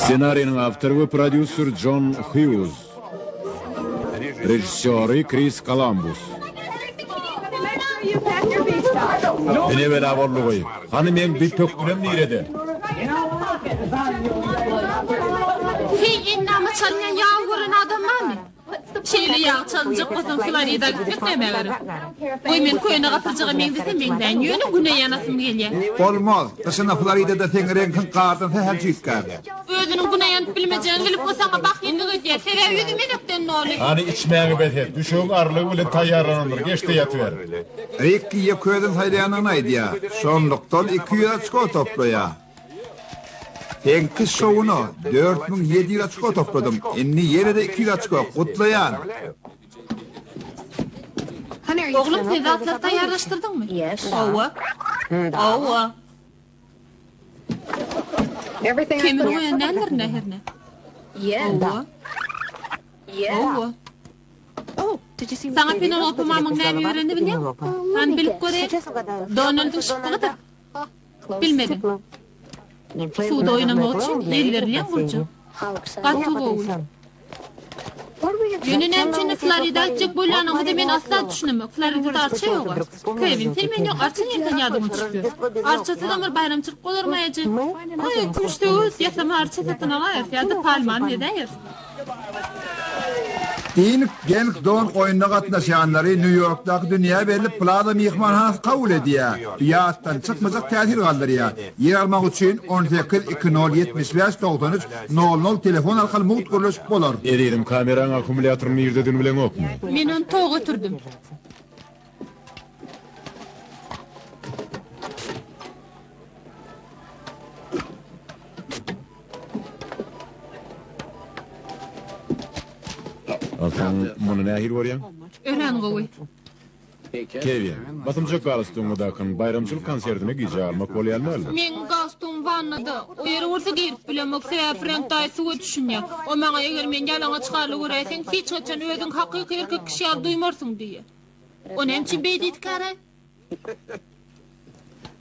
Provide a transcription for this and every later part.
Ssenariniň awtory we prodýuser Jon Hýuz. Režissýory Kris Kolambus. Ine bela boldugy. Hany meň bir pökginem nirede? Heý, indi ama çalynýan ýagy gören adam barmy? Şeýle ýagy çalynjak bolsaň Florida alyp git näme gerek. Goý men köne gapyrjyga meňzesem meňzäýin ýöne güne ýanasym gelýä. Bolmaz, gyşyna Floridada seň reňkiň gardan sähel jüýtgärler. Özüniň güne ýanyp bilmejegini bilip bu saňa bahyllyk edýär. Sebäbi ýüzi menekden doly. Hany içmäňi bes et. Düşegiň arlygy bilen taýýarlanandyr. Geç-de ýatyber. Rikki ýeke özüni saýlaýandygyny aýdýar. Şonlukdan iki ýüz oçko toplaýar. Sekiz şowuna dört müň ýedi ýüz oçko topladym. Indi ýene-de iki ýüz oçko. Gutlaýan! Oglum sen zatlar taýýarlaşdyrdyňmy? Hawa. Hawa. Kemini goýan däldir indi ahyryn. Hawa. Hawa. Saňa Penelope mamyň näme öwrendi bilýäňmi? Han bilip göräý. Donaldyň şypbygydyr. Bilmedim. Suwda oýnamak üçin elberilýän gurjak. Gaty gowy. Ýöne näme üçin Florida gitjek bolýanyňyzy men asla düşünemok. Floridada arça ýog-a. Kewin, sen menden arça nirden ýadyňa düşüp ýör? Arçasydam bir baýramçylyk bolarmaýajak. Kümüş söwüt ýasama arça satyn alaýers ýa-da palmany ezäýers. Inc. Gelk Dog oýnuna gatnaşýanlary Nýu-Ýorkdaky dünýä belli Plaza myhmanhanasy kabul edýär. Ýatdan çykmajak täsir galdyrýar. Ýer almak üçin on sekiz iki nol ýetmiş bäş togsan üç nol nol telefon arkaly mugt gürleşip bolar. Ezizim kameraň akkumulýatory nirde dün bileňokmy. Men ony toga ötürdim. Sen muny nähili görýäň? Örän gowy. Kewi, basymjak galstugyňy dakyn, baýramçylyk konsertine gijä almak bolýan dälmi? Meň galstugym wannada. O ýere bolsa girip bilemok, sebäbi Frenk daýy suwa düşünýär. O maňa eger men ýalaňaç haly göräýseň, hiç haçan özüňi hakyky erkek kişi ýaly duýmarsyň diýýär. O nämçün beý diýdi kara?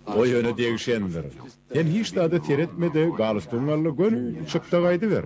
Goý öne degişendir. Sen hiç zada seretme-de, galstugyňy al-da göni çykda gaýdyber.